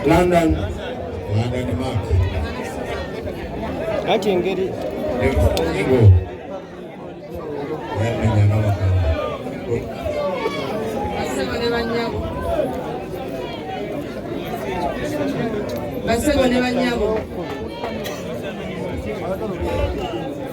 London, London Mark. Ati engeri basebo ne banyabo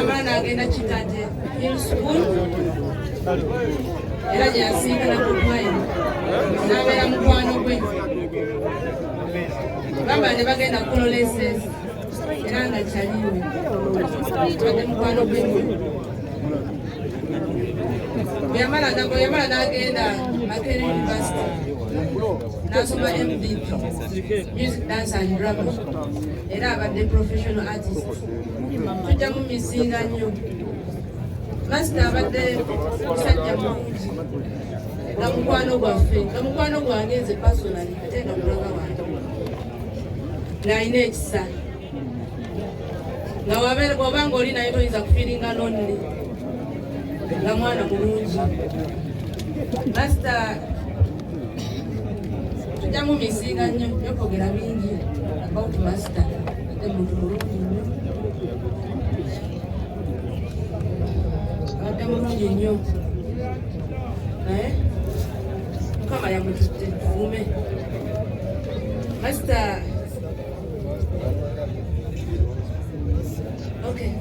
abaana agenda kitadde school era gyeyasinkana ku mwine n'abeera mukwano gwe baba ne bagenda kulola esensi era nga kyaliwe badde mukwano gwe yamala nago yamala n'agenda makere university n'asoma mdp music dance and drama era abadde professional artist tujja mu misinga nnyo masita abadde musajja mulungi nga mukwano gwaffe nga mukwano gwange nze personal ate nga mulaga wange ng'alina ekisa nga waba nga oli naye toyinza kufiringa nonni nga mwana mulungi masita tujja mu misinga nnyo yokwogera bingi about master ate muntu mulungi nnyo abadde mulungi nnyo naye mukama yamututte tuume masita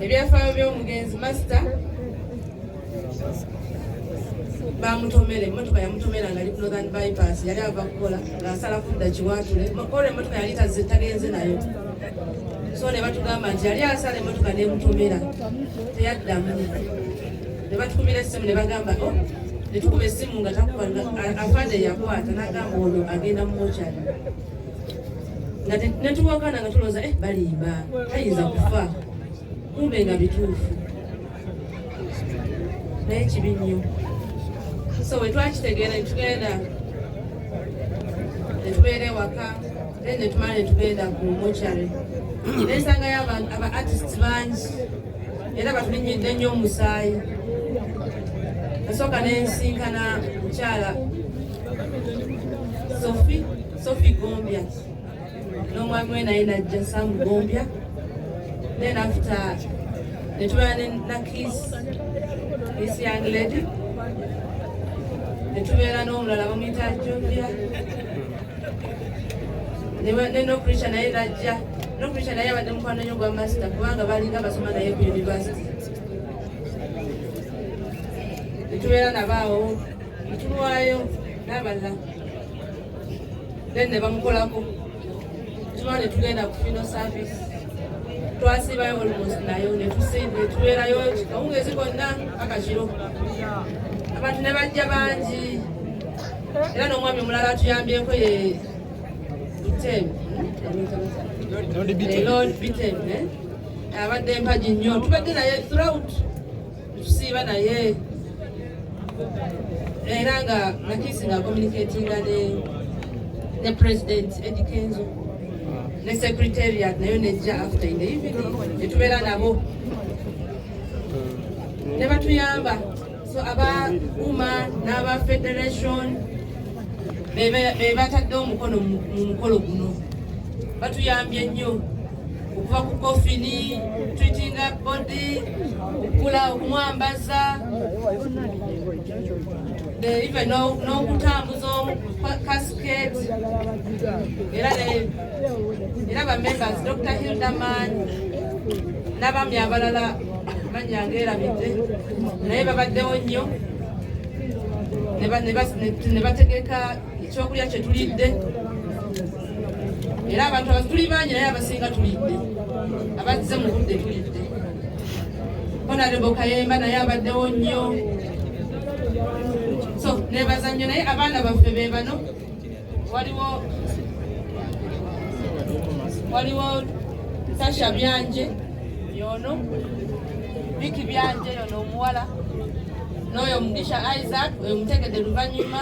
ebyafaayo by'omugenzi masita bamutomera emmotoka yamutomera nga ali ku northern bypass yali ava kukola ng'asala kudda kiwaatule ola emmotoka yali tazze tagenze nayo so ne batugamba nti yali asala emmotoka nemutomera teyaddamu ne batukumira essimu ne bagamba o oh, ne tukuba essimu nga takuba afande yakwata n'agamba ono agenda mu mochari nga netuwakana nga tulooza eh, balimba tayinza kufa kumbe nga bituufu naye kibi nnyo so bwe twakitegeera ne tugenda ne tubeera ewaka then ne tumala ne tugenda ku mochary ne nsangayo aba artist bangi era batulinyidde nnyo omusaayi nasooka ne nsinkana mukyala sofi sofi gombya n'omwami we naye najja samugombya then after netubeera nakis this young lady netubeera n'omulala bamuyita jovia nenokricha naye najja nokricha naye abadde mukwano nyo gwa masita kubanga balinga basoma naye ku university netubeera nabaawo netuwayo n'abalala then ne bamukolako tuba ne tugenda ku fino service twasibayo almost nayo netubeerayo kawungezi konna akakiro abantu ne bajja bangi era n'omwami omulala atuyambyeko ye bitem lord bitem eh? abadde mpagi nnyo tubadde naye throughout tusiiba naye era nga nakisi nga communicatinga ne ne president Eddy Kenzo ne secretariat nayo nejja after in the evening netubeera nabo ne batuyamba so aba uma n'aba federation be batadde omukono mu mukolo guno batuyambye nnyo okuva ku kofini treatinga body okukula okumwambaza even n'okutambuza casket era era bamembers dr hilderman n'abaami abalala manya ngaerabidde naye babaddewo nnyo ne bategeka ekyokulya kye tulidde era abantu abatuli bangi naye abasinga tulidde abazze mu budde tulidde honarebo kayemba naye abaddewo nnyo so nebaza nnyo naye abaana baffe be bano waliwo waliwo tasha byanje yono biki byanje yono omuwala n'oyo mugisha isaac oyo mutegedde luvannyuma